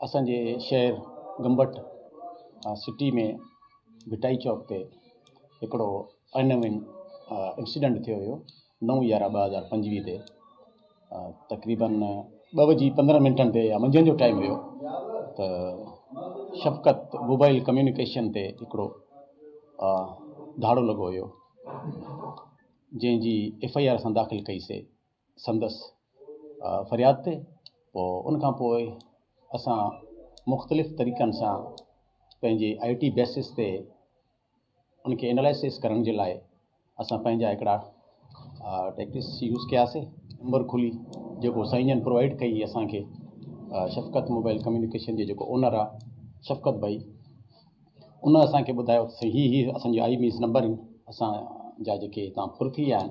اسان جي شهر گمبٽ سٽي ۾ ڀٽائي چوڪ تي هڪڙو انوينٽ انسيڊنٽ ٿيو هيو نو يارهن ٻه هزار پنجويهه تي تقريبن ٻه وڄي پندرهن منٽن تي يا منجهند جو ٽائيم هيو ته شفقت موبائل ڪميونيڪيشن تي هڪڙو ڌاڙو لڳو هيو جنهن جي ايف آئي آر اسان داخل ڪئيسي سندس فرياد تي پوء ان کان پوء اسان مختلف طريقن سان پنهنجي آئي ٽي بيسز تي ان کي انالائسس ڪرڻ جي لاء اسان پنهنجا هڪڙا ٽيڪٽس يوز ڪياسي نمبر کلي جيڪو سائين جن پرووائيڊ ڪئي اسان کي شفقت موبائل ڪميونيڪيشن جي جيڪو اونر آهي شفقت بھائی ان اسان کي ٻڌايو ته سائين هي هي اسان جي آئي ميس نمبر آهن اسان جا جيڪي هتان ڦر ٿي ويا آهن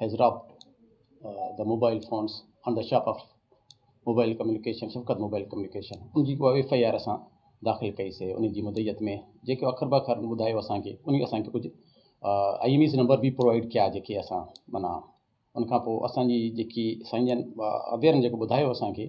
has dropped the mobile phones on the shop of mobile communication Shafqat mobile communication ان جي ڪو ايف آء آر اسان داخل ڪئي سي ان جي مدعيت ۾ جيڪي اکر به اکر ٻڌايو اسانکي ان کي اسانکي ڪجهه آئي ايم ايز نمبر به پرووائيڊ ڪيا جيڪي اسان منا ان کان پوء اسانجي جيڪي سائين جن اويرن جيڪو ٻڌايو اسانکي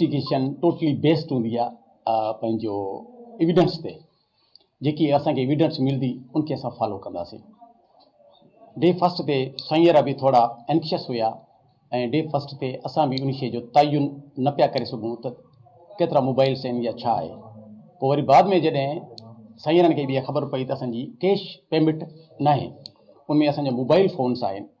انويسٽيگيشن ٽوٽلي بيسڊ هوندي آ پنهنجو ايويڊنس تي جيڪي اسان کي ايويڊنس ملدي ان کي اسان فالو ڪنداسين ڊي فرسٽ تي سنيرا به ٿورا انڪشس هيا ۽ ڊي فرسٽ تي اسان به ان شي جو تعين نه پيا ڪري سگهون ته ڪيترا موبائلس آهن يا ڇا آهي پوء وري بعد ۾ جڏهن سنيرن کي به خبر پئي ته اسان جي ڪيش پيمنٽ ناهي ان ۾ اسان جا موبائل فونس آهن